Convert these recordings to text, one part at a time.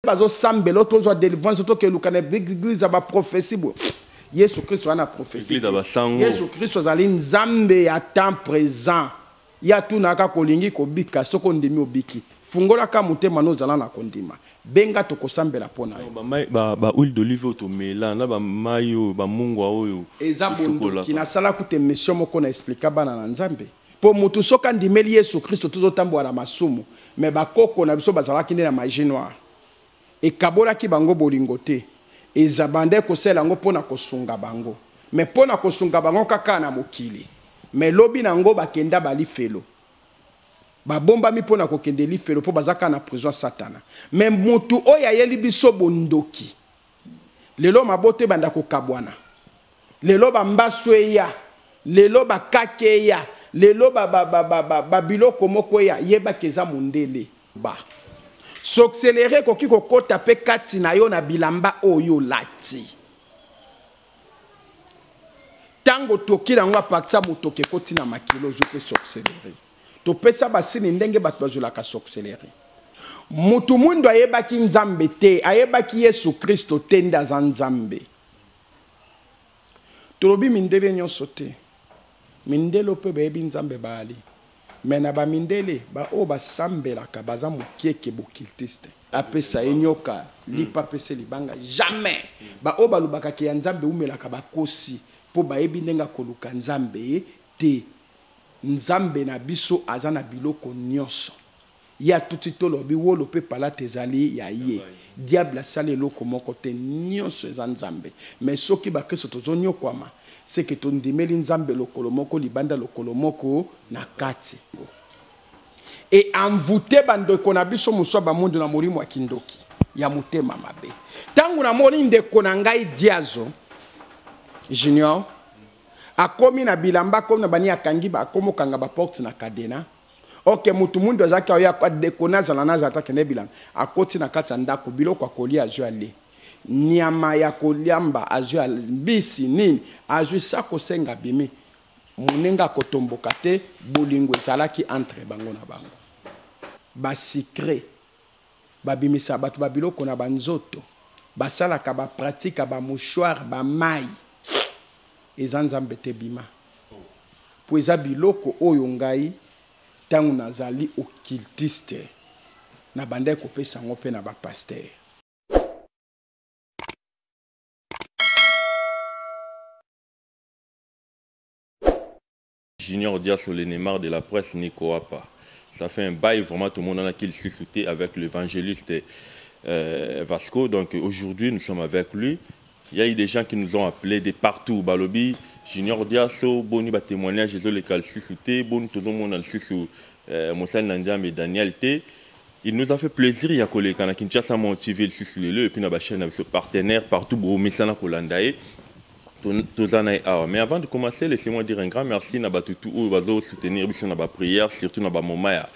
bazo sambelo to zo delivrance to ke lukana église ba prophétie bo Yesu Kristo ana prophétie église ba sango Yesu Kristo azali nzambe ya temps présent ya tuna ka kolingi kobika soko ndimi obiki fungola ka motema no zala na kondima benga to kosambela pona yo ba mai ba ba huile d'olive oyo tomela na ba mai oyo ba mungwa oyo eza bondoki na sala kute mission moko na expliquer bana na nzambe Po mutu soki andimeli yesu christo tozo tambola na masumu mais ba koko na biso bazalaki nde na magie noire ekabolaki bango bolingo te eza bandaki kosala yango pona kosunga bango mais pona kosunga bango kaka na mokili mais lobi na ngo bakenda ba lifelo ba bombami pona kokende lifelo po baza kaka na prison ya satana mais mutu oyo ayeli biso bondoki Lelo mabota ebanda kokabwana. Lelo ba mbasu eya. Lelo ba kake eya. Lelo ba, ba, ba, ba, ba, ba biloko moko eya. Yeba ke eza mundele. Ba soxelere ekoki kokota pe kati na yo na bilamba oyo olati. Tango otoki na yango apartir ya motoki ekoti na makila ozwi pe soxelere. topesa basini ndenge bato bazwelaka sorcellerie moto mwindo ayebaki nzambe te ayebaki yesu kristo te nde aza nzambe tolobi mindele nyonso te mindele mpe bayebi nzambe baali me na bamindele baoyo basambelaka baza mokieke bokiltiste apesa ye nyoka lipa apesa libanga jamais baoyo balobaka ke ya nzambe eumelaka bakosi mpo bayebi ndenge akoluka nzambe te Nzambe na biso aza na biloko nionso. Ye atuti tolobi wolo pe palata ezali ya ye. Diable asali eloko moko te. Nionso eza Nzambe. Mais soki ba kristo tozo niokwama ce que to ndimeli Nzambe lokolo moko libanda lokolo moko na kati. E envouter ba ndeko na biso mosusu ya ba mwindu na molimo ya kindoki, ya motema mabe. Tango na moni ndeko na ngai Diazo junior akomi na bilamba akomi na bani akangi akomi okanga ba porte na cadena ok mutu mundu azalaki aoya adekone azala na azala takende bilanga akoti na kati ya ndako biloko akolia azwi ale nyama ya koliamba azwi mbisi nini azwi sa kosenga bimi monenga akotomboka te bolingo ezalaki entre bango na bango basecret Babimisa batu ba biloko na ba nzoto basalaka ba pratika ba mouchoir ba mayi eza nzambe te bima po eza biloko oyo ngai tangu nazali occultiste na bandaki kopesa yango pe na ba pasteur. Junior Diasso le Neymar de la presse Nico Apa ça fait un bail vraiment tomonanaki lisusu te avec l'évangéliste euh, Vasco donc aujourd'hui nous sommes avec lui il y a eu des gens qui nous ont appelés de partout balobi Junior Diasso boni ba témoignages ezoleka lisusu te boni tozomona lisusu euh, mosali na Nzambe Daniel te il nous a fait plaisir ya koleka na Kinshasa Mont TV lisusu lelo et puis na ba chaîne na biso partenaire partout bomesana kolanda ye toza na ye awa mais avant de commencer laissez-moi dire un grand merci na bato tout oyo bazo soutenir biso na ba prière surtout na ba moment ya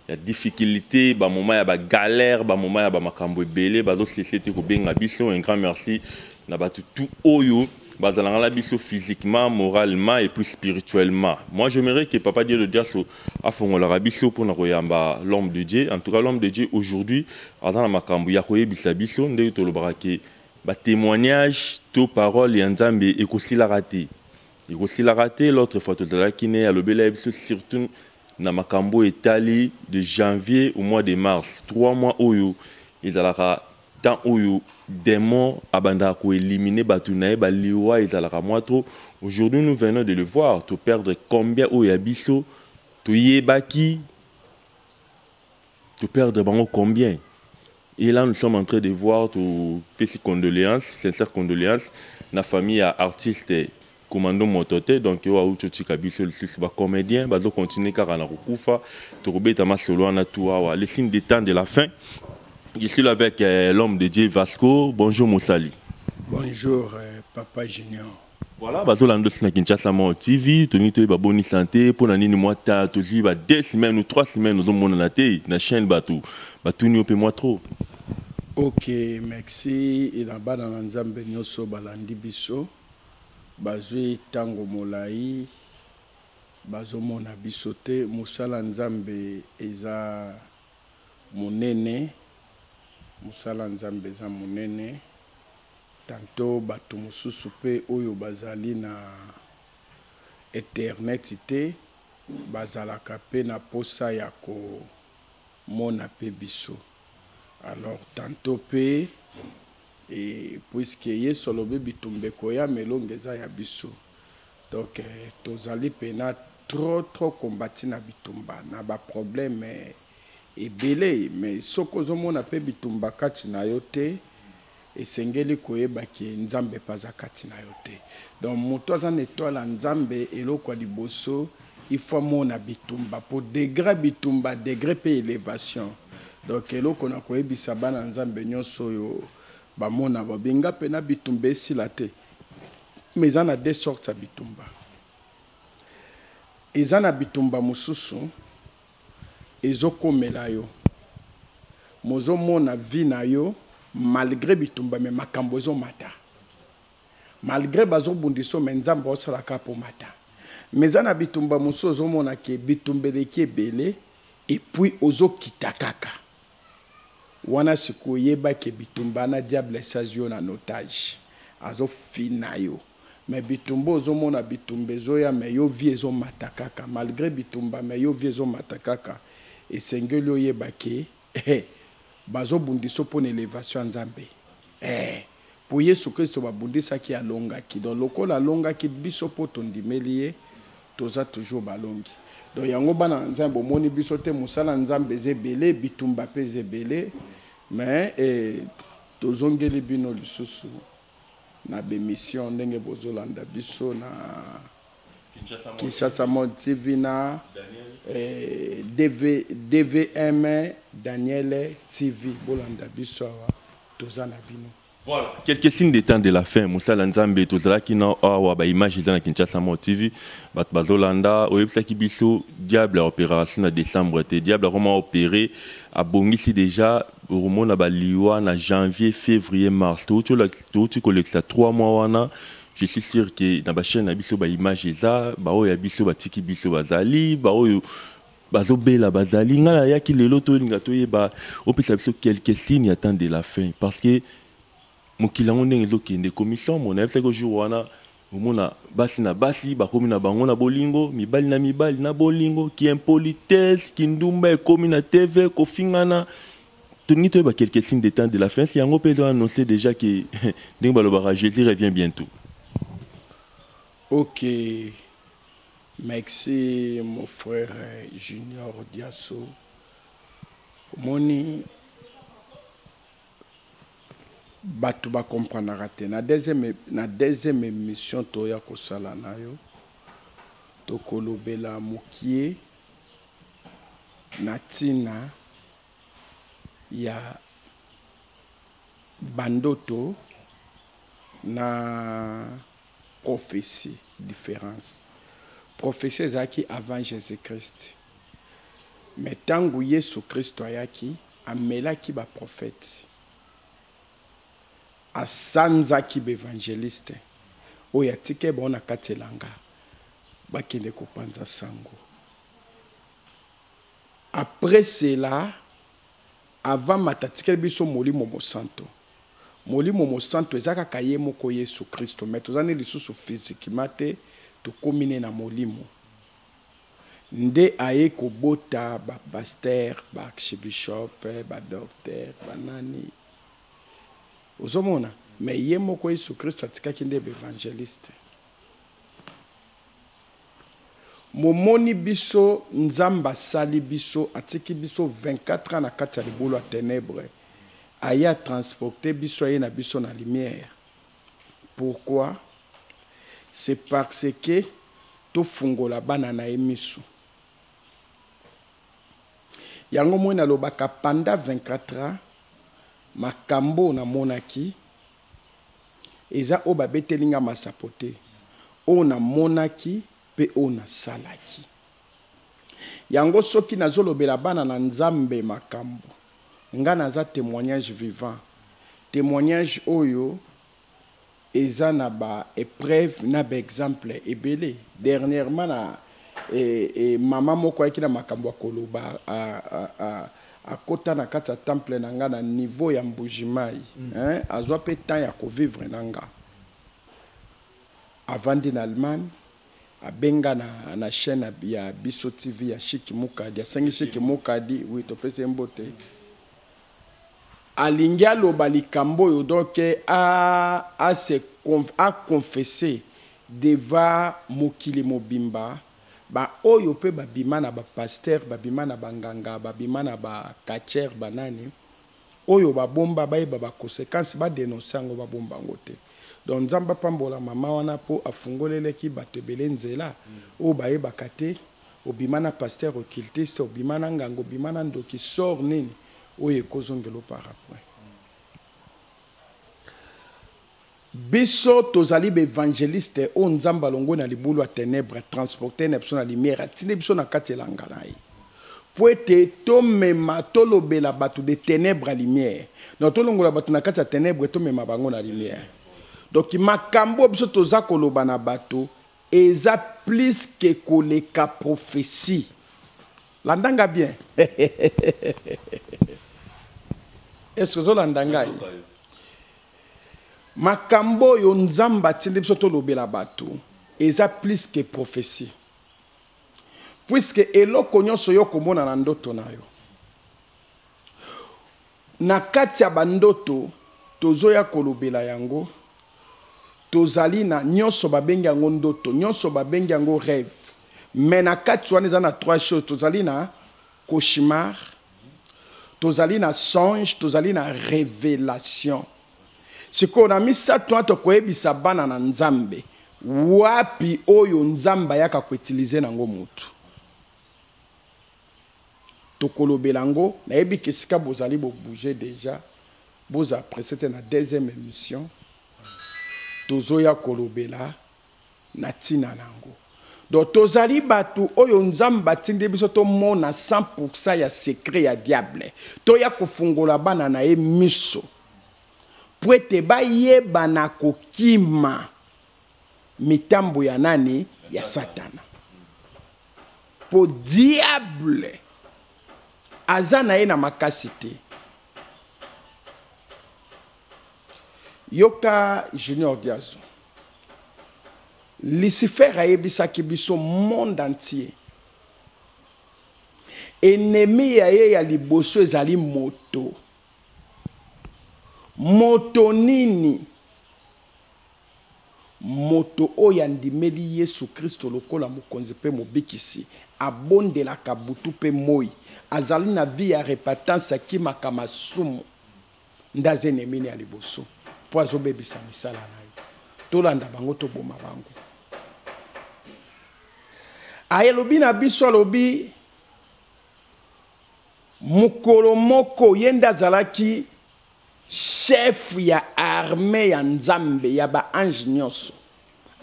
ya difficulté ba moment ya ba galère ba moment ya ba makambo ebele bazo cesse te kobenga biso un grand merci na bato tout oyo bazalanga na biso physiquement moralement et puis spirituellement moi j'aimerais que papa dieu le diaso afongolaka biso mpona koyamba l'homme de dieu en tout cas l'homme de dieu aujourd'hui aza na makambo ya koyebisa biso ndenge tolobaka ke Ba temoignage to parole ya nzambe ekosilaka te ekosilaka te l'autre fois tozalaki ne alobela biso surtout na makambo etali de janvier au mois de mars trois mois oyo ezalaka temps oyo demon abandaka ko elimine batu naye ba liwa ezalaka mwa trop aujourd'hui nous venons de le voir to perdre combien oyo ya biso toyebaki To perdre bango combien? Et là nous sommes en train de voir to pesi condoléances, sincères condoléances na famille ya artiste Commando Motote donc oyo awuti otika biso lisusu ba comediens bazo continuer kaka na kokufa tokobeta masolo wana tout awa le signe de temps de la fin je suis là avec euh, l'homme de Dieu Vasco bonjour Mosali Bonjour euh, Papa Junior. Voilà, bazo landa aussi na Kinshasa Mort TV, tolingi toyeba boni santé, mpo na nini mwa ta tozwi ba deux semaines ou trois semaines ozomonana te na chaîne bato batuni yo mpe mwa trop. Ok, merci na bana na Nzambe nyonso balandi biso bazwi ntango molai bazomona biso te. Mosala Nzambe eza monene, mosala Nzambe eza monene. Tantot batu mosusu pe oyo bazali na Internet te bazalaka pe na posa ya ko mona pe biso. Alors tantot pe puisque Yesu alobi bitumba ekoya mais elonga eza ya biso donc tozali pena trop trop combati na bitumba na ba probleme ebele mais soki ozo mona pe bitumba kati na yo te, esengeli koyeba ke nzambe pe aza kati na yo te donc mutu aza na etoile ya nzambe eloko ya liboso il faut amona bitumba po degre ya bitumba degre pe elevation donc eloko na koyebisa bana ya nzambe nionso oyo ba mona ba binga pena bitumba esila te mais eza na de sorte ya bitumba eza na bitumba mosusu ezo komela yo mozo mona vie na yo malgre bitumba mais makambu ezo mata malgre bazo bundisa yo mais nzambe azo sala kaka po mata mais eza na bitumba mosusu ozo mona ke bitumba eleki ebele et puis ozo kita kaka wana sikoyo yeba ke bitumba na diable esi azwi yo na notage azo fina yo mais bitumba ozo mona bitumba ezo ya mais yo vie ezo mata kaka malgre bitumba mais yo vie ezo mata kaka esengeli oyeba ke eh bazo bundisa yo pona elevation ya nzambe eh po yesu christo ba bundisaki ye alongaki donc lokola alongaki biso po tondimeli ye toza toujours balongi donc yango bana na nzambe bomoni biso te musala ya nzambe eza ebele bitumba pe eza ebele mais eh tozongeli bino lisusu na b'emissions ndenge bozo landa biso na Kinshasa Mode TV na DV, DVM Daniel TV bolanda biso awa toza na bino. Voilà, quelques signes de temps de la fin. Moussa Lanzambe, tozalaki na awa ba images dans Kinshasa Mode TV. Bat bazolanda, oyebisaki biso diable a opération na décembre te. Diable akoma opérer, abongisi déjà Okomona ba liwa na janvier, fevrier, mars. Towuti towuti kolekisa trois mois wana, je suis sur que na ba chaines na biso ba images eza, ba oyo ya biso batiki biso bazali, ba oyo bazo bela bazali. Nga nayaki lelo tolinga toyeba, opesa biso quelques signes ya temps de la fin parce que, Mokili yango ndenge ezo kende ekomi somo nayebi saki jour wana omona basi na basi bakomi na bango na bolingo mibali na mibali na bolingo ki impolitesse ki ndumba ekomi na TV kofingana tolingi toyeba quelques signes de temps de la fin yango pe ezo annonce dejà ke ndenge balobaka Jesus revient bientot. Ok merci mon frère junior diaso omoni. Batu ba comprenaka te na deuxième na deuxième emission toya kosala nayo tokolobela mukie na tina ya ba ndoto na prophetie difference prophetie ezalaki avant Jesus Christ mais tangu yesu christo ayaki Amelaki ba prophètes. Asanzaki ba evangelistes oyo atikaki bango na kati elanga bakende kopanza sango. Après cela, avant amata atikeli biso Molimo Mosanto. Molimo Mosanto eza kaka ye moko Yesu Kristo mais toza ne lisusu physiquement te, tokomi ne na molimo. Nde aye kobota ba pasteur ba archibishop ba docteur ba nani ozo mona mais ye moko yesu christo atikaki nde ba evangeliste momoni biso nzambe asali biso atiki biso 24 ans na kati ya libulu ya tenebre aye a transporte biso aye na biso na lumière Pourquoi? C'est parce que to fungola bana na ye misu. Yango omoni na lobaka pendant 24 ans makambo oyo na monaki eza oyo ba beteli nga masapo te. Oyo na monaki pe oyo na salaki. Yango soki nazo lobela bana na nzambe makambu nga naza temoignage vivant temoignage oyo eza na ba epreuve na ba exemple ebele dernierement na maman moko ayaki na makambu ya koloba akota na kati ya temple na nga na niveau ya mbuji mayi azua pe temps ya ko vivre na nga avandi na Allemagne abenga na na chaine ya biso TV ya Chic Mukadi asengi Chic Mukadi oui topesi ye mbote alingi aloba likambo oyo donc a a se a confesser devant mokili mobimba ba oyo pe babima na ba pasteur babima na banganga babima na ba catcheur banani Oyo ba bomba bayeba ba consequence ba denoncer yango ba bomba yango te donc nzambe apambola maman wana po afungolelaki batu ebele nzela oyo bayebaka te obima na pasteur occultiste obima na nganga obima na ndoki sort nini oyo ekozongela yo parapoint Biso tozali ba evangelistes oyo Nzambe alongwe na libulu ya tenèbres, transporter na biso na lumière, atindi biso na kati elanga na ye mpo ete tomema, tolobela bato de tenèbres à lumière. Donc tolongola bato na kati ya tenèbres tomema bango na lumière. Donc makambo oyo biso toza koloba na bato eza plus que koleka prophetie. Landa nga bien. Est-ce que ozo landa ngai? Makambo oyo Nzambe atindi biso tolobela bato eza plus que prophetie. Puisque eloko nionso yo okomona na ndoto na yo, na kati ya ba ndoto tozoya kolobela yango, tozali na nionso babengi yango ndoto, nionso babengi yango reve, mais na kati wana eza na trois choses, tozali na cauchemar, tozali na songe tozali na revelation sikoyo na misato wana tokoyebisa bana na nzambe wapi oyo nzambe ayaka koutilize nango motu tokolobela yango nayebi ke esika bozali bobouge deja boza presse te na deuxième émission tozoya kolobela na ntina na yango. Donc tozali batu oyo nzambe atindi biso tomona 100 pourcent ya secret ya diable toya kofungola bana na ye miso mpo ete bayeba na kokima mitambo ya nani ya satana mpo diable aza na ye na makasi te Yoka junior diazu. Lucifer ayebisaki biso monde entier. Ennemi ya ye ya liboso ezali moto. Moto nini? Moto oyo andimeli Yesu Kristo lokola mokonzi mpe mobikisi, abondelaka butu mpe moi, azali na vie ya repentance, akimaka masumu. nde aza enemini ya liboso mpo azobebisa misala na ye tolanda bango toboma bango alobi na biso alobi mokolo moko ye nde azalaki chef ya arme ya nzambe ya baange nyonso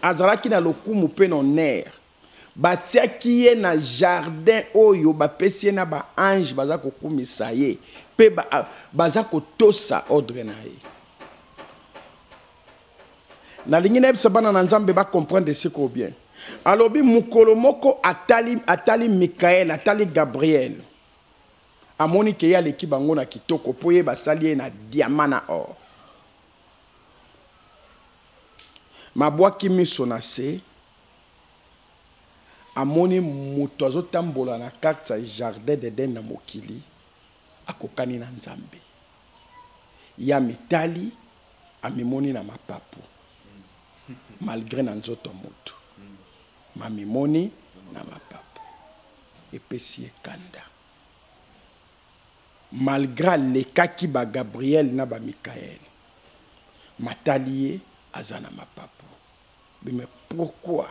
azalaki na lokumu mpe na honere Batiaki ye na jardin oyo bapesi ye na ba anges baza kokumisa ye pe baza kotosa ordre na ye. Nalingi nayebisa bana na Nzambe ba comprendre sikoyo bien. Alobi mokolo moko atali, atali Michael, atali Gabriel. Amoni ke ye aleki bango na kitoko po ye basali ye na diamant na or. Mabwaki miso na se. amoni mutu azo tambola na carte ya jardin d'eden na mokili akokani na nzambe ye amitali amimoni na mapapu malgre na nzoto mutu mamimoni na mapapu epesi ye kanda malgre alekaki ba gabriel na ba mikael matali ye aza na mapapu Mais pourquoi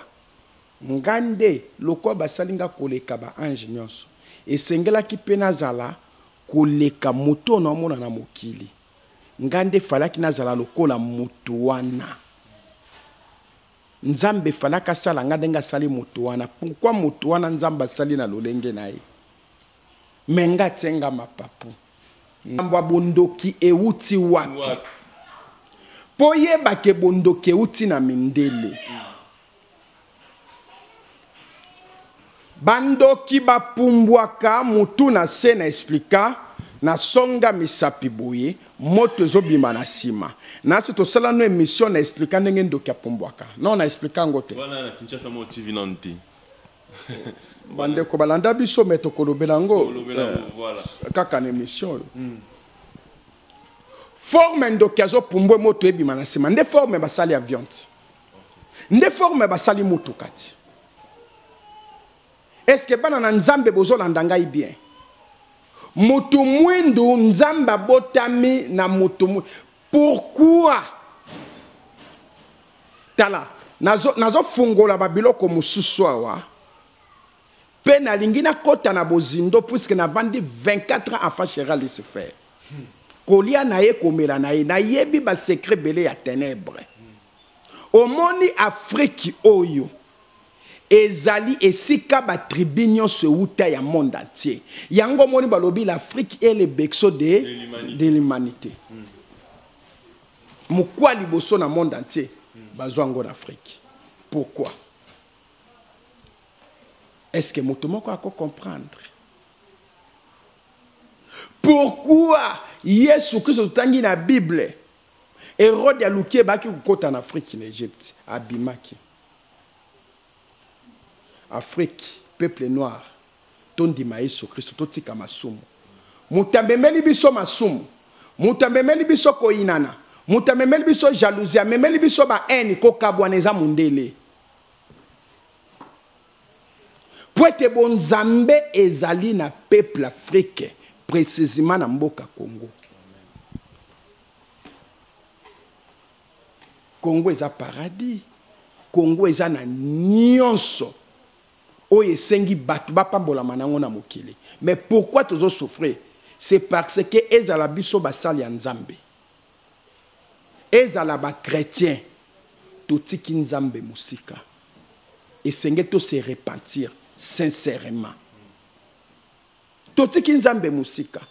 nga nde lokola basali nga koleka ba anges nionso esengelaki pe nazala koleka moto oyo naomona na mokili nga nde falaki nazala lokola moto wana nzambe falaki asala nga ndenge asali moto wana pourquoi moto wana nzambe asali na lolenge na ye mais nga atie nga mapapu Likambo ya bondoki ewuti wapi? Po oyeba ke bondoki ewuti na mindele. Ba ndoki ba pumbwaka mutu na se na explica na songa misapi boye moto ezo bima na sima. Na se tosala nanu emission na explica ndenge ndoki apumbwaka. Non na explica yango te. Wana na Kinshasa moko TV nanu te. bandeko balanda biso me tokolobela yango eh, kaka na émission oyo hmm. forme ndoki azopumbwe moto ebima na nsima nde forme basali avion ti nde forme basali motuka ti eske bana na nzambe bozolanda ngai bien motu mwindu nzambe abotami na motu Pourquoi? Tala, nazo, nazo fungola ba biloko mususu awa. Pe nalingi nakota na bozindo puisque navandi 24 ans afa Gérard Lucifer. Kolia na ye komela na ye, nayebi ba secret bele ya ténèbres. Omoni Afrique oyo ezali esika ba tribus nionso ewuta ya monde entier. Yango omoni balobi l'Afrique est le berceau de de l'humanite. Mokua liboso na monde entier bazua yango na Afrique. Pourquoi? Est ce que moto moko ako comprendre? Pourquoi Yesu Christo totangi na Bible Erode aluki ebaki kokota na Afriki na Egypte abimaki. Afriki peuple noir tondima yesu kristu totika masumu moto amemeli biso masumu moto amemeli biso koyinana moto amemeli biso jalousie amemeli biso ba haine kokabwana eza mondele Mpo ete bonzambe ezali na peuple Afrique, precisement na mboka Congo. Congo eza paradis. Congo eza na nyonso oyo esengi bato bapambolama nango na mokili. Mais pourquoi tozo souffrir? C'est parce que ezala biso basali ya Nzambe. ezala ba chretien totiki nzambe mosika esengeli to se repentir sincèrement totiki nzambe mosika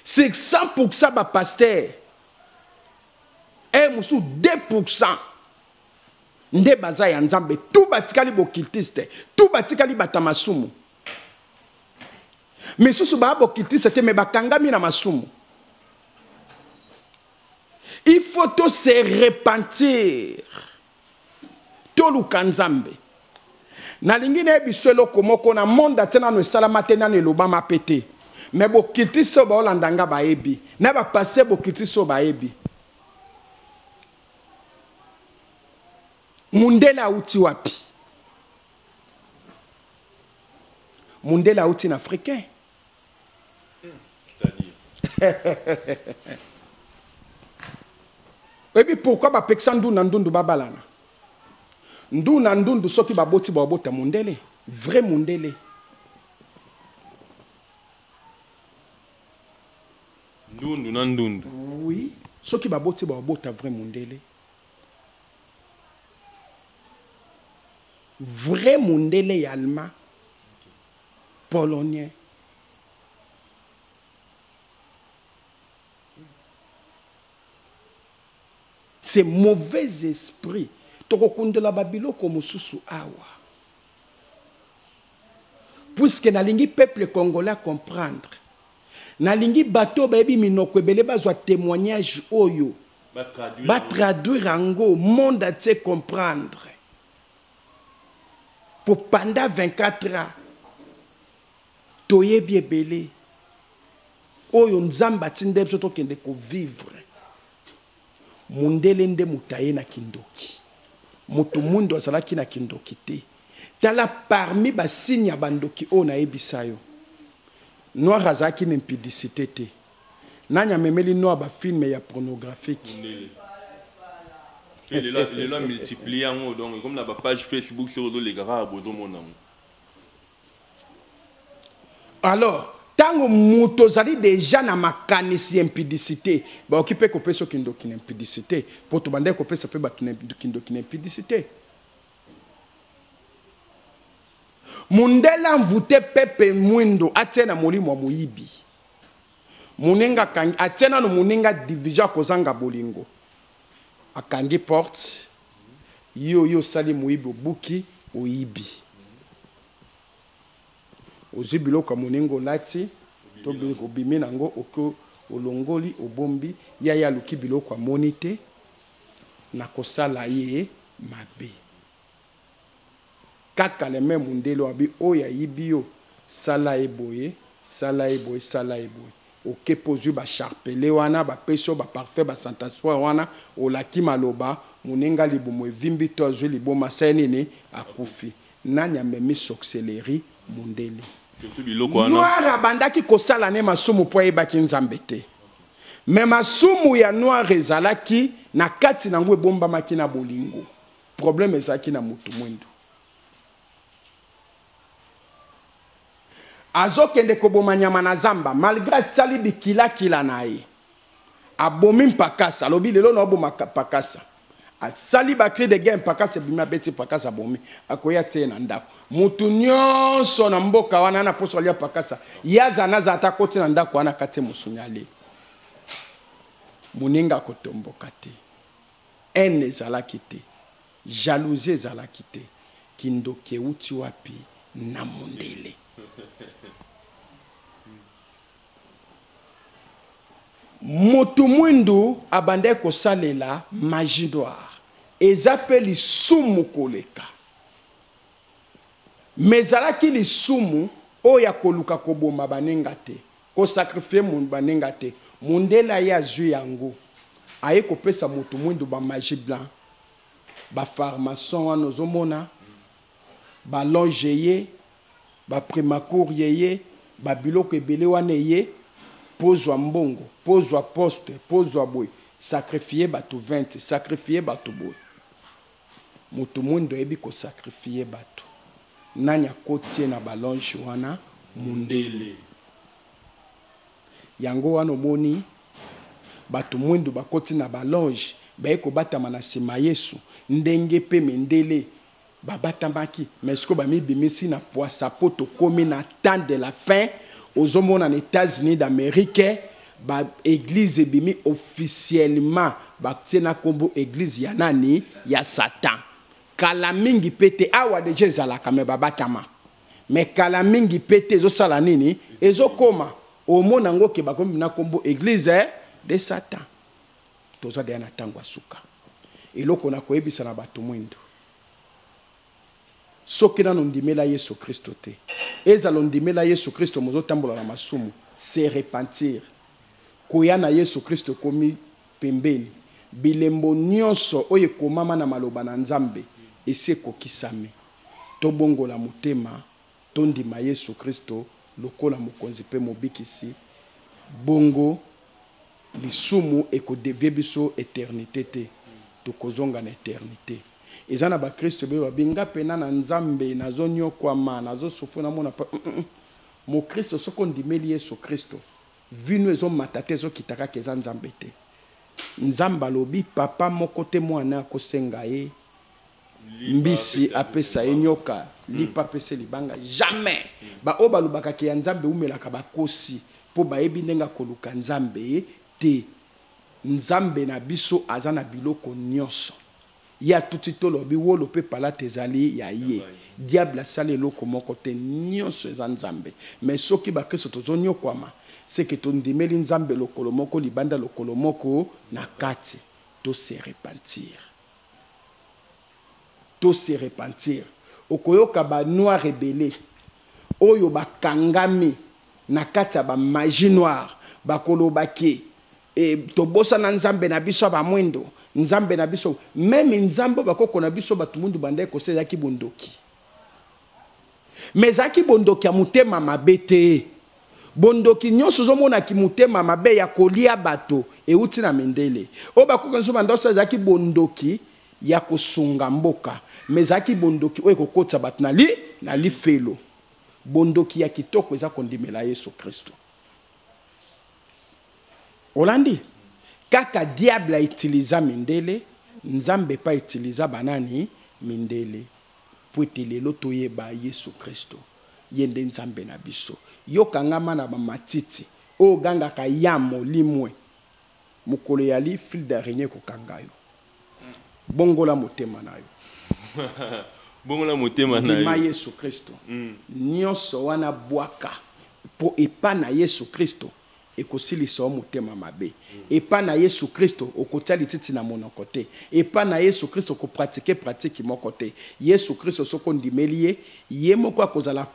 sur 100% ba pasteur e mosusu 2% nde baza ya nzambe tu batikali bokiltiste tu batikali bata masumu Misusu ba bokiltiste te mais bakangami na masumu. Il faut to se repentir. Toluka Nzambe. Nalingi na biso eloko moko na monde atia nano esalama te nano elobama pe te. Mais bokiltiste oyo baolanda nga bayebi. Na ba passe bokiltiste oyo bayebi. Mundele auti wapi? mundele auti na africain oyebi pourkui bapekisa ndu na ndundu babalana ndu na ndundu soki baboti babota mundele vrai mundele ndundu na ndundu oui soki baboti babota vrai mundele Vrai mundele ya alma polonien. C'est mauvais esprit. Toko kundola ba biloko mususu awa. Puisque nalingi peuple congolais comprendre. Nalingi bato bayebi minoko ebele bazwa temoignage oyo. Ba traduire ango monde atie comprendre. Po pendant 24 ans toyebi ebele oyo Nzambe atindeli biso tokende ko vivre. Mundele nde moto aye na kindoki. Moto muindu azalaki na kindoki te. Tala parmi ba signe ya ba ndoki oyo nayebisa yo, noir azalaki na impudicite te. Nani amemeli noa ba film ya pornographique? Mundele. Pe lelo lelo a multiplier yango donc ekomi na ba page Facebook soki ozo leka kaka bozo mona yango. Alors, tango moto ozali deja na makanisi ya impudicite, bakoki pe kopesa yo kindoki na impudicite, po tobandaki kopesa pe bato na kindoki na impudicite. Mundele a envoute Pepe Mwindo atia ye na molimo ya moyibi. Munenga akangi atie nanu munenga division akozanga bolingo akangi porte yo oye osali moyibi obuki oyibi ozwi biloko ya munenga olati to biloko obimi nango oke olongoli obombi ya ye aluki biloko amoni te na kosala ye mabe Kaka le meme mundele oyo abi oyo ayibi yo sala ye boye sala ye boye sala ye boye oke pe ozui ba sharpele wana ba pesi yo ba parfum ba santaspray wana olaki maloba muninga libumu evimbi to azui liboma asala ye nini akufi nani amemi soxelerie mundele Noir abandaki kosala ne masumu po ayebaki Nzambe te mais masumu ya Noir ezalaki na kati na yango ebombamaki na bolingo. Problème ezalaki na mutu muindu. Azokende koboma nyama na zamba malgre asali bikilakila na ye. Abomi mpakasa alobi lelo na oboma mpakasa. Asali ba cri de guerre mpakasa ebimi abeti mpakasa abomi akoya tie na ndako. Mutu nyonso na mboka wana na poso alia mpakasa ye aza naza ata akoti na ndako wana akati musuni alie. Moninga akotomboka te. Haine ezalaki te, jalousie ezalaki te, kindoki ewuti wapi na mundele. Mutu muindu abandaki kosalela magie noire eza pe lisumu koleka mais ezalaki lisumu oyo ya koluka koboma baninga te Ko sacrifier mutu baninga te. Mundele aye azui yango aye kopesa mutu muindu ba magie blanc ba pharmason wana ozo mona ba longe eye ba primacourt eye ba biloko ebele wana eye po ozua mbongo po ozua poste po ozua boye sacrifier batu 20 sacrifier batu boye. Mutu muindu ayebi ko sacrifier batu nani akoti ye na ba longe wana mundele yango wana omoni batu muindu bakoti na ba longe baye kobatama na sima yesu ndenge pe mindele babatamaki mais sikoyo bamibimisi na puasa po tokomi na temps de la fin ozomona na etats unis d'amerique Ba eglise ebimi officiellement batie na kombo eglise ya nani? Ya satan. Kala mingi pe te, awa dejà ezalaka mais ba batama. Mais kala mingi pe te ezo sala nini? Ezo koma. Omona ngo ke bakomi na kombo eglise de satan. Toza dejà na tango ya suka. Eloko na koyebisa na batu mwindu. Soki nanu ondimela yesu christo te ezala ondimela yesu christo mais ozo tambola na masumu se repentir koya na yesu christo ekomi pembeni bilembo nionso oyo ekomama na maloba na nzambe esi ekokisami tobongola motema tondima yesu christo lokola mokonzi pe mobikisi bongo Lisumu eko devier biso eternite te, tokozonga na eternite. Eza na ba christo ebele ba bi nga pena na nzambe nazo niokwama, nazo souffrir na mona pasi hum hum mo christo soki ondimeli yesu christo vie no ezo mata te ezo kita kaka eza nzambe te nzambe alobi papa moko te muana ako senga ye mbisi apesa ye nyoka hmm. lipa apesa ye libanga jamais hmm. baoyo balobaka ke ya nzambe eumelaka bakosi mpo bayebi ndenge akoluka nzambe te nzambe na biso aza na biloko nyonso ye atuti tolobi wolo mpe palata ezali ya ye diable asali eloko moko te nyonso eza nzambe me soki bakristo tozonyokwama seke tondimeli nzambe lokolo moko libanda lokolo moko na kati tose repentir to se repentir okoyoka ba noix rebele oyo ba kangami na kati ya ba magie noire bakoloba ke eh, tobosana nzambe na biso ba mwindo nzambe na biso meme nzambe ba bakoko na biso bato mundu bandaki kosa ezalaki bondoki mais ezalaki bondoki ya motema mabe te Bondoki nionso ozo mona kimutema mabe ya kolia bato ewuti na mindele oyo bakuke nso banda osala ezalaki bondoki ya kosunga mboka mais ezalaki bondoki oyo ekokotisa bato na li na lifelo bondoki ya kitoko eza kondimela Yesu Kristu olandi kaka diable a utiliza mindele nzambe pa utiliza banani mindele Mpo ete lelo toyeba Yesu Kristo, Ye nde Nzambe na biso. Yo kangama na ba matiti oyo ogangaka yambo limue, mokolo eyali fil d'araignee ekokanga yo. Bongola motema na yo. Bongola motema na yo. Ndima Yesu Kristo. Nionso wana bwaka, mpo epa na Yesu Kristo Ekosilisa yo motema mabe. Epa na Yesu Kristo, okotia lititi na monoko te. Epa na Yesu Kristo, ko pratiquer pratique moko te. Yesu Kristo, soki ondimeli Ye, Ye moko akozala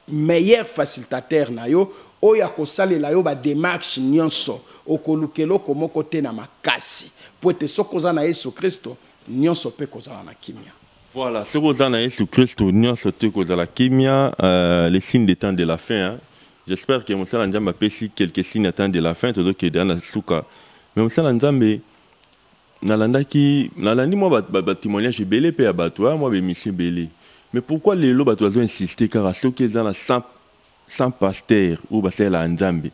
meilleur facilitateur na yo, oyo akosalela yo ba demarches nionso. Okoluka eloko moko te na makasi. Mpo ete soki oza na Yesu Kristo, nionso mpe ekozala na kimia. Voilà, soki oza na Yesu Kristo nyonso tu ekozala kimia euh, les signes des temps de la fin. Hein. J'espère que mosala Nzambe apesi quelques signes des temps de la fin tozokende ana suka. Mais mosala Nzambe nalandaki nalandi mwa batémoignage ba, ba ebele mpe ya bato ya mwa bemission ebele mais pourquoi lelo bato bazo insiste kaka soki eza na 100 100 pasteurs oyo basalelaka Nzambe,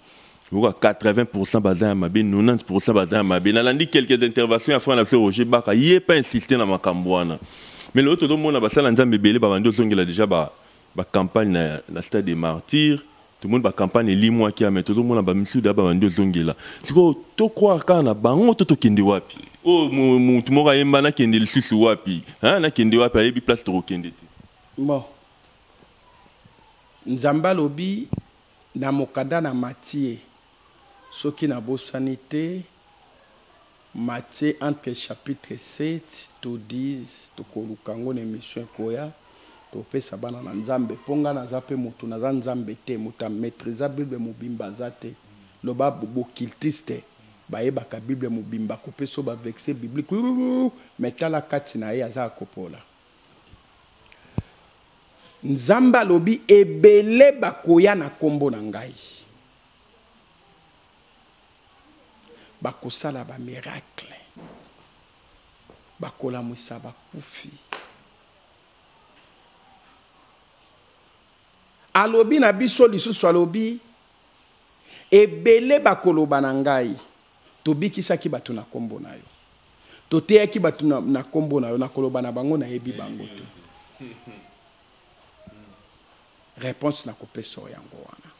lokola 80 pourcent baza ya mabe, 90 pourcent baza ya mabe. Nalandi quelques interventions ya frère na biso Roger Baka, ye mpe a insister na makambo wana. Mais lelo tozomona basali na Nzambe ebele babandi kozongela dejà ba ba campagne na, na stade des martyrs tomoni ba campagne elimwaki ya mais tozomona ba misusu deja babandi kozongela sikoyo to croire kaka na bango to tokende wapi oyo mu- mutu moko ayemba nakende lisusu wapi hein? nakende wapi ayebi place tokokende te Bon, Nzambe alobi na mokanda na Matie, soki nabosani te, Matie entre chapitre 7 to 10, tokoluka yango na emission ekoya, topesa bana na Nzambe, po nga naza pe mutu, naza Nzambe te, mutu a maitrisa bible mobimba aza te, loba b'occultistes bayebaka bible mobimba, kopesa yo ba versets bibliques, youyouyouyou, mais tala kati na ye, aza ya kopola. Nzambe alobi, Ebele bakoya na Kombo na Ngai. Bakosala ba miracles. Bakolamwisa bakufi. Alobi na biso lisusu, alobi, Ebele bakoloba na Ngai. Tobikisaki bato na kombo na yo. Toteyaki bato na kombo na yo, na koloba na bango, Nayebi bango te. Reponse nakopesa yo yango wana.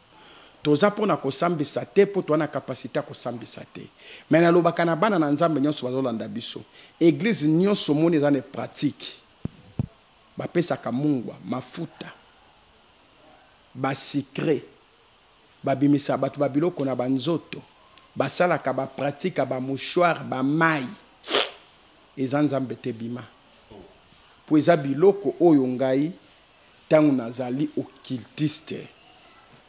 Toza mpo na kosambisa te, mpo toza na capacite ya kosambisa te. Mais nalobaka na bana na Nzambe nionso bazolanda biso, eglise nionso omoni eza ne pratique, bapesaka mungwa, mafuta, ba sucres, Babimisa batu ba biloko na ba nzoto basalaka ba pratika ba mouchoir ba mayi eza nzambe te bima po eza biloko oyo ngai tangu nazali occultiste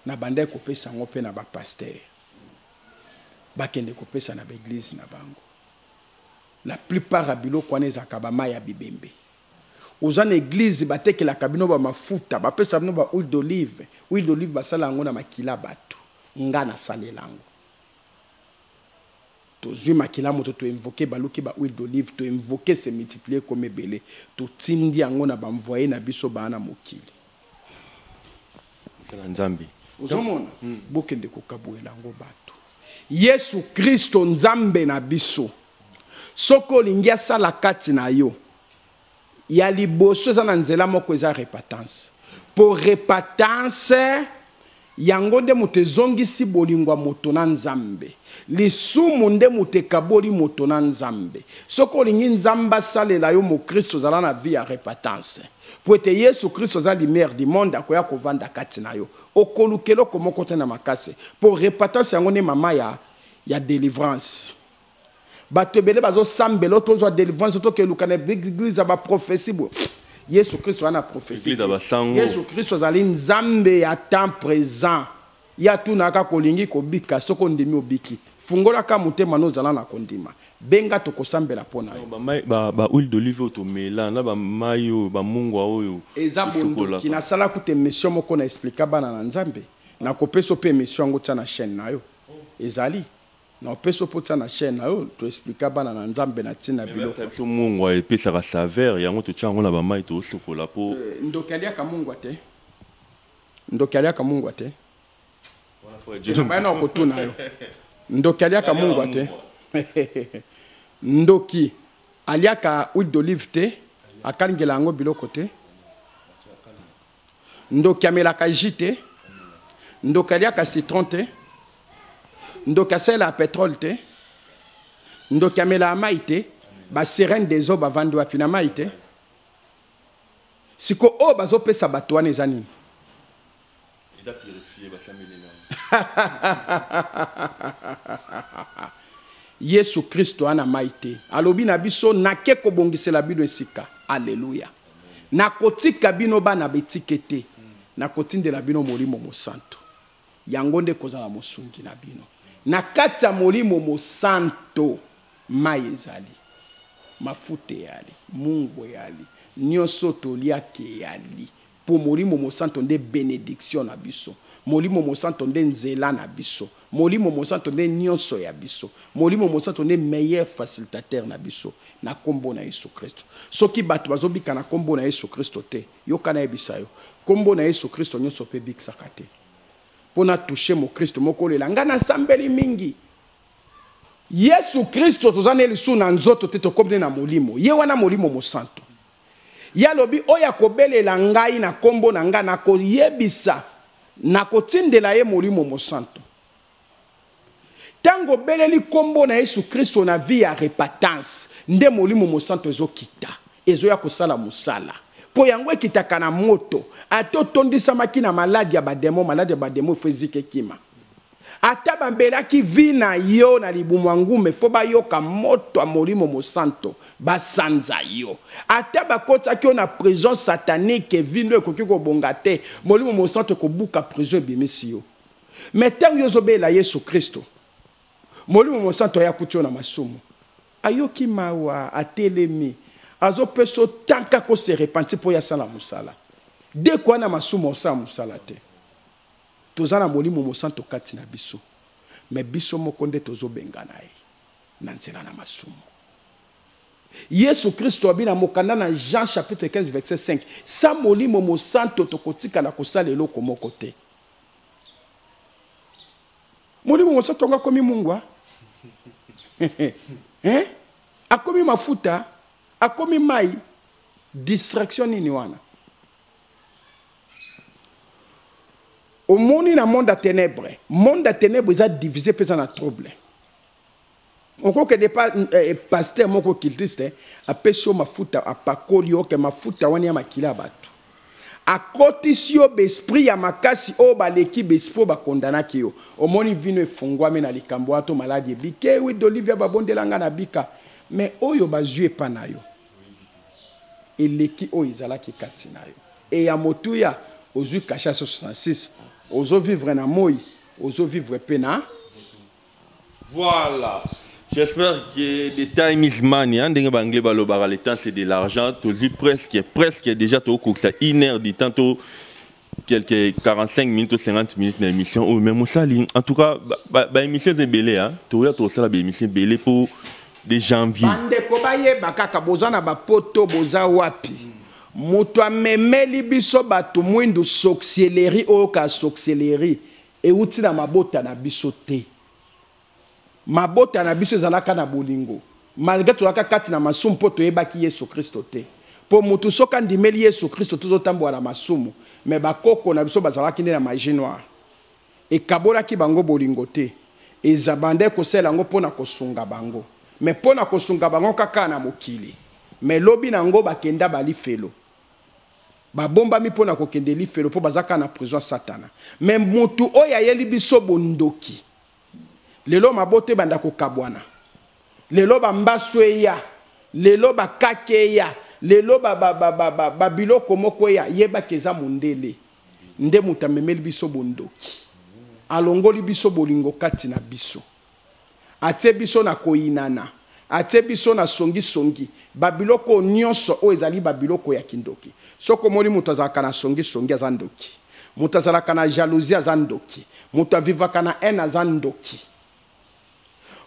na bandaki kopesa yango pe na ba pasteur bakende kopesa na ba eglise na bango la plupart ya biloko wana ezalaka ba mayi ya bibembe. Oza na eglise batekelaka bino ba mafuta bapesa bino ba huile d'olive huile d'olive basala yango na makila batu nga na salela yango tozwi makila moto to invoke baluki ba huile d'olive to invoke se multiplier comme ebele totindi yango na banvoye na biso baa na mokili na nzambe ozomona hmm. bokende kokabuela yango bato yesu kristo nzambe na biso Soki olingi asala kati na yo ya liboso eza na nzela moko eza repatance po repatance yango nde moto ezongisi bolingo ya moto na nzambe lisumu nde moto ekaboli moto na nzambe soki olingi nzambe asalela yo mokristo ozala na vie ya repatance po ete yesu kristo aza lumière du monde akoya kovanda kati na yo okoluka eloko moko te na makasi po repatance yango nde mama ya, ya delivrance bato ebele bazosambela o tozwa delivrance tokeluka na eglise ya baprofesi boye yesu kristo wana profesi yesu kristo azali nzambe ya temps présent ye atunaka kolingi kobika soki ondimi obiki fungolaka motema nozala na kondima benga tokosambela mpo na yobahuile d'olive oyo tomela na bamai oyo bamungwa oyo eza bondoki nasala kuta emission moko na explika bana na nzambe nakopesa mpe emission yango tya na chaîne na yo ezali Na opesi yo po otia na chaine na yo to explica bana na nzambe na tina ya biloko. Merci na biso mungwa epesaka saveur yango totia yango na ba mayi tozo sokola po. Ndoki aliaka mungwa te ndoki aliaka mungwa te eza baya nao kotuna yo ndoki aliaka mungwa te ndoki aliaka huile d'olive te akalingela yango biloko te ndoki amelaka jus te ndoki aliaka citron te ndoki asalelaka petrole te ndoki amelaka mai te baserene des eaux bavandi wapi na mai te siko oyo bazopesa bato wana eza nini yesu kristo ana mai te alobi na biso nake kobongisela bino esika aleluya Nakotika bino bana bitike te, nakotindela bino Molimo Mosantu. Yango nde ekozala mosungi na bino. Na kati ya Molimo Mosantu, mai ezali, mafuta eyali, mungwa eyali, nionso oyo toliaka eyali. Po Molimo Mosantu nde benediction na biso. Molimo Mosantu nde nzela na biso. Molimo Mosanto nde nionso ya biso. Molimo Mosanto nde meilleur facilitateur na biso na kombo na Yesu Kristo. Soki batu bazo bika na kombo na Yesu Kristo te, yoka na yebisa yo, kombo na Yesu Kristo nionso pe ebikisaka te. Po na toucher mo Kristo moko olela, nga na sambeli mingi. Yesu Kristo toza na ye lisusu na nzoto te, tokomi nde na molimo. Ye wana Molimo Mosanto. Ye alobi, Oyo akobelela ngai na nkombo na ngai, nakoyebisa, nakotindela ye Molimo Mosantu. Ntango obeleli nkombo na Yesu Kristo na vie ya repatance, nde Molimo Mosantu ezokita, ezoya kosala mosala. Mpo yango ekitaka na moto. Ata otondisamaki na maladi ya bademo, maladi ya bademo il faut ezika ekima. Ata ba melaki vie na yo na libumu ya ngum il faut ba yoka moto ya molimo mosanto ba sanza yo. Ata ba kotisaki yo na prison satanique vie no ekoki ko bonga te molimo mosanto eko buka prison ebimisi yo. Mais tangu yo ozo belela yesu christo molimo mosanto aya akuti yo na masumu ayoki mawa atelemi azo pesa yo temps kaka o se repentir po ye asala musala. Deko wana masumu osala musala te. Toza na molimo mosanto kati na biso mais biso moko nde tozo bengana ye na nzela na masumu. Yesu Kristo abi na mokanda na Jean chapitre 15 verset 5, sans molimo mosanto tokotikala kosala eloko moko te. Molimo mosanto yango akomi mungwa? hein? Akomi mafuta? Akomi mai? Distraction nini wana? omoni na monde ya tenebre monde ya tenebre eza divise mpe eza na trouble okokende pa eh, eh paster moko kiltiste apesi yo mafuta apakoli yo ke mafuta wana ya makila ya bato akotisi yo besprit ya makasi oyo baleki besprit oyo bakondanaki yo omoni vino efungwami na likambo wana to maladi ebike wi dolivia babondela ngai na bika me oyo bazwi epa na yo eleki oyo ezalaki kati na yo et ya motuya ozui cachet ya 166 ozo vivre na moyi ozo vivre pe na Voilà. J'espère que the time is money. Hein, ndenge ba anglais balobaka le temps c'est de l'argent. Tozwi presque presque déjà tokokisa une heure du temps to quelques 45 minutes ou 50 minutes na émission oyo mais mosali en tout cas baémission eza ebele a toya tokosala baémission ebele mpo de janvier bandeko bayeba kaka boza na bapoto boza wapi moto amemeli biso bato mwindu soxieleri oyoka soxieleri euti na mabota na biso te Mabota na biso ezalaka na bolingo malgre tozalaka kati na masumu po toyebaki Yesu Kristo te. Po mutu soki andimeli Yesu Kristo te ozotambola na masumu. Mais ba koko na biso bazalaki nde na magie noire. Ekabolaki bango bolingo te. Ezabandaki kosalela yango po na kosunga bango. Mais po na kosunga bango kaka na mokili. Mais lobi na yango bakenda ba lifelo. Babombami po na kokende lifelo po baza kaka na prison ya satana. Mais mutu oyo ayeli biso bondoki. lelo mabota ebanda kokabwana lelo bambasu eya lelo bakake eya lelo babiloko moko eya yebaka eza mondele nde moto amemeli biso bondoki alongoli biso bolingo kati na biso atie biso na koyinana Atie biso na songi songi ba biloko oyo nionso oyo ezali ba biloko ya kindoki soki omoni mutu azalaka na songi songi aza ndoki mutu azalaka na jalousie aza ndoki mutu a vivaka na haine aza ndoki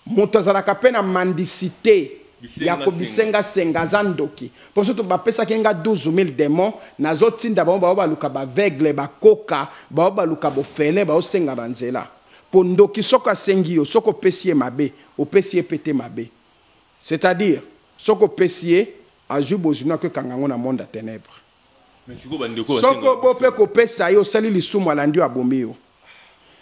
mutu azalaka pe na mendicite ya ko bisenga senga aza ndoki po soki ba pesaki nga 12000 demons nazo tinda bango ba yo baluka ba aveugle ba koka ba yo baluka bofele ba yo senga na nzela Po ndoki soki asengi yo soki opesi ye mabe opesi ye pe te mabe c'est à dire soki opesi ye azui bozui nako ekanga ngo na monde ya tenèbres soki bo pe kopesa ye osali lisumu alandi yo abomi yo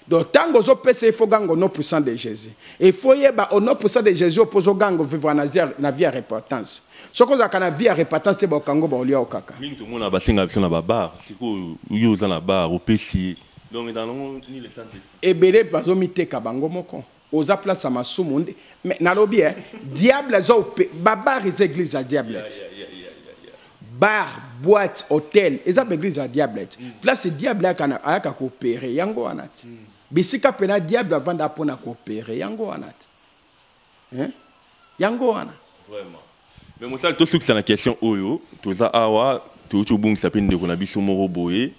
donc tango ozo pesa ye faut ganga au nom puissant de Jesus il faut yeba au nom puissant de Jesus opo ozo ganga vivre na zia na vie ya repentance soki ozalaka na vie ya repentance te ba okanga yo ba olia yo kaka mingi tomona ba senga biso na ba bar sikoyo yo oza na bar opesi ye Donc dans le monde ni le sens ebele bazo miteka bango moko oza place ya masumu nde me nalobi eh, diable aza ope babar eza eglise ya diablete yeah, yeah, yeah, yeah, yeah. bar boite hotel eza mm. baeglise ya diablete mm. place diable ayaka koopere yango wana ti mm. bisika mpena diable avanda mpo na koopere yango wana ti hein yango wana vraiment mais mosali tosukisa na question oyo toza awa touti obungisa mpe ndeko na biso moko boye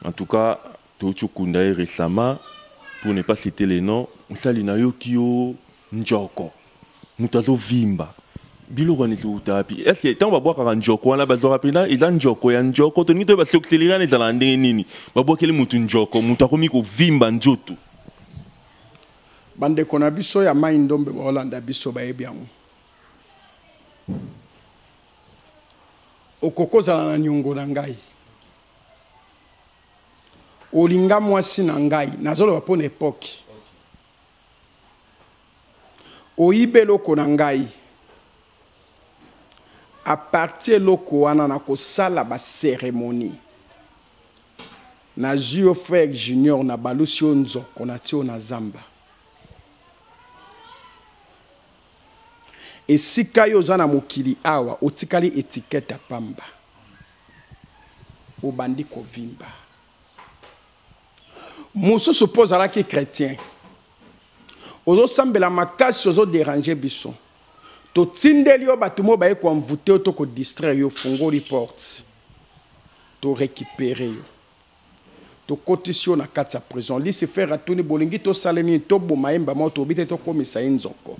en tout cas touti okunda ye récemment pour ne pas citer le nom mosali nayoki yo njoko moto azovimba biloko wana ezowuta wapi estce ntango babwakaka njoko wana bazwaka mpena eza njoko ya njoko tolingi toyeba sokiseliri wana ezalaka ndenge nini babwakeli motu njoko moto akomi kovimba nzoto Ba ndeko na biso ya mayi ndombe bao landa biso bayebi yango. Okoki kozala na niongo na ngai. Olinga mwasi na ngai, nazoloba mpo na epoki. Oyiba eloko na ngai. A partir eloko wana nakosala ba ceremonie. Nazui yo frère junior na balusi yo nzoko na ti yo na zamba esika yo oza na mokili awa otikali etiquette ya pamba obandi kovimba mosusu mpo ozalaki chrétien ozosambela makasi ozoderange biso totindeli yo bato moo baye koenvoute yo to kodistraire yo ofungoli porte To recuperer yo. Tokotisi yo na kati ya prison. Lucifer atuni bolingi tosala ye nini? Toboma ye mbama oyo tolobi te tokomisa ye nzoko.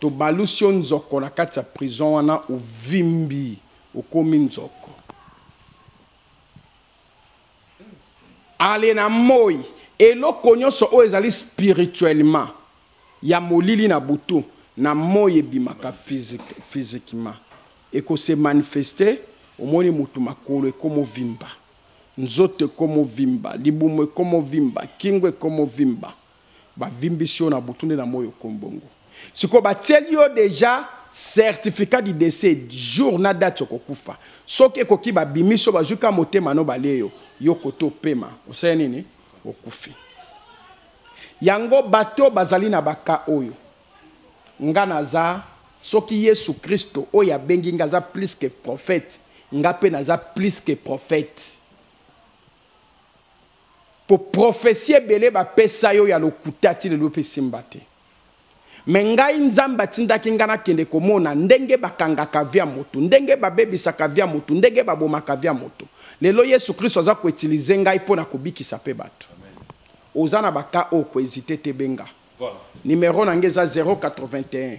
Tobalusi yo nzoko na kati ya prison wana ovimbi okomi nzoko. Allez na moyi. Eloko nyonso oyo ezali spirituellement ya molili na butu na moyi ebimaka physiquement eko se manifeste omoni mutu makolo ekomo vimba nzoto ekomo vimba libumu ekomo vimba kingo ekomo vimba ba vimbisi yo na butu nde na moyi okomi bongo sikoyo ba tieli yo dejà certificat du decès jour na date oko kufa soki ekoki ba bimisi yo bazui kaka motema no balie yo yo kote opema osali nini okufi. Yango bato bazali na ba cas oyo. Nga naza soki yesu christo oyo abengi nga aza plus que prophète nga pe naza plus que prophète po prophetie ebele ba pesa yo ya lokuta ti lelo pe esimba te. Mais ngai nzambe atindaki ngai nakende komona ndenge bakangaka vie ya mutu, ndenge babebisaka vie ya mutu, ndenge babomaka vie ya mutu. Lelo yesu christo aza ko utiliser ngai pona kobikisa pe batu. Oza na ba cas oyo ko hesiter te benga. Numero na ngai eza 081.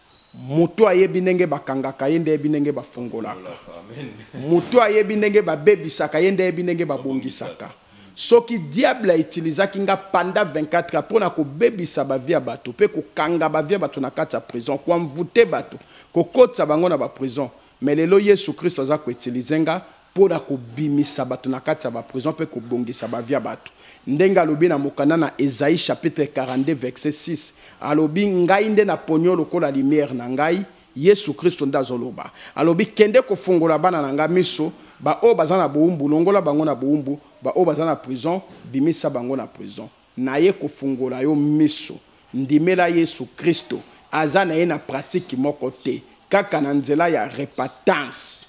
Mutu ayebi ndenge bakangaka ye nde ayebi ndenge bafungolaka. Mutu ayebi ndenge babebisaka ye nde ayebi ndenge babongisaka. Soki diable a utilisaki nga pendant 24 heures pona kobebisa ba vie ya batu pe kokanga ba vie ya batu na kati ya prison, ko envouter batu, kokotisa bango na ba prison, mais lelo Yesu Christ aza ko utiliser nga mpo na kobimisa bato na kati ya baprizo mpe kobongisa bavie ya bato, ndenge alobi na mokanda na Esaïe chapitre 42 verset 6, alobi, Ngai nde naponi yo lokola lumière na ngai, Yesu Kristo nde azoloba. Alobi, Kende kofongola bana na ngai miso, baoyo baza na bowumbu, longola bango na bowumbu, baoyo baza na prison, bimisa bango na prison. Naye kofongola yo miso. Ndimela Yesu Kristo. Aza naye na pratique moko te, kaka na nzela ya repentance.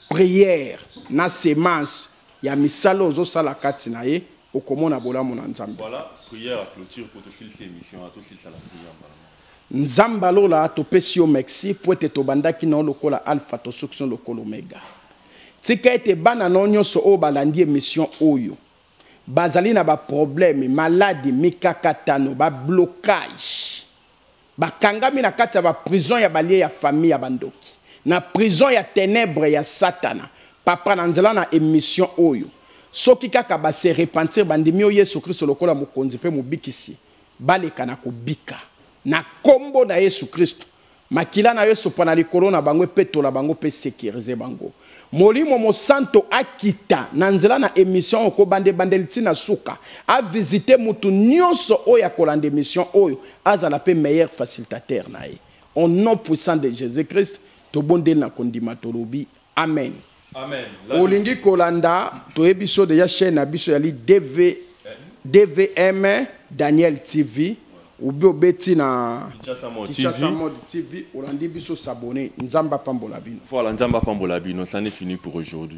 Prière na semence ya misala ozo sala kati na ye okomona bolamu na nzambe. Voilà prière ya cloture po to silisa emission wana to silisa na prière mbala moko. Nzambe ya lola to pesi yo mexi po ete to bandaki na yo lokola alpha to suki na yo lokola omega. Tika ete bana na yo nionso oyo ba landi emission oyo ba zali na ba problème, maladi, mikakatano, ba blocage, Bakangami na kati ya ba prison ya balie ya famille ya ba ndoki. Na prison ya tenèbres ya satana. Papa na nzela na emission oyo. Soki kaka ba se repentir bandimi yo yesu christo lokola mokonzi pe mobikisi baleka na kobika. Na kombo na yesu christo. Makila na yo esopa na likolo na bango epetola bango pe securiser bango. Molimo mosanto akita na nzela na emission oyo kobanda ebandeli ti na suka a visiter mutu nionso oyo akolanda emission oyo azala pe meilleur facilitateur na ye au nom puissant de Jesus Christ tobondeli na kondima tolobi amen. Amen. Olingi kolanda toyebi biso dejà chaine na biso yali DV, DVM Daniel TV. ou bien obeti na Kinshasa Mode TV olandi biso s'abonner Nzambe apambola bino voilà Nzambe apambola bino ça n'est fini pour aujourd'hui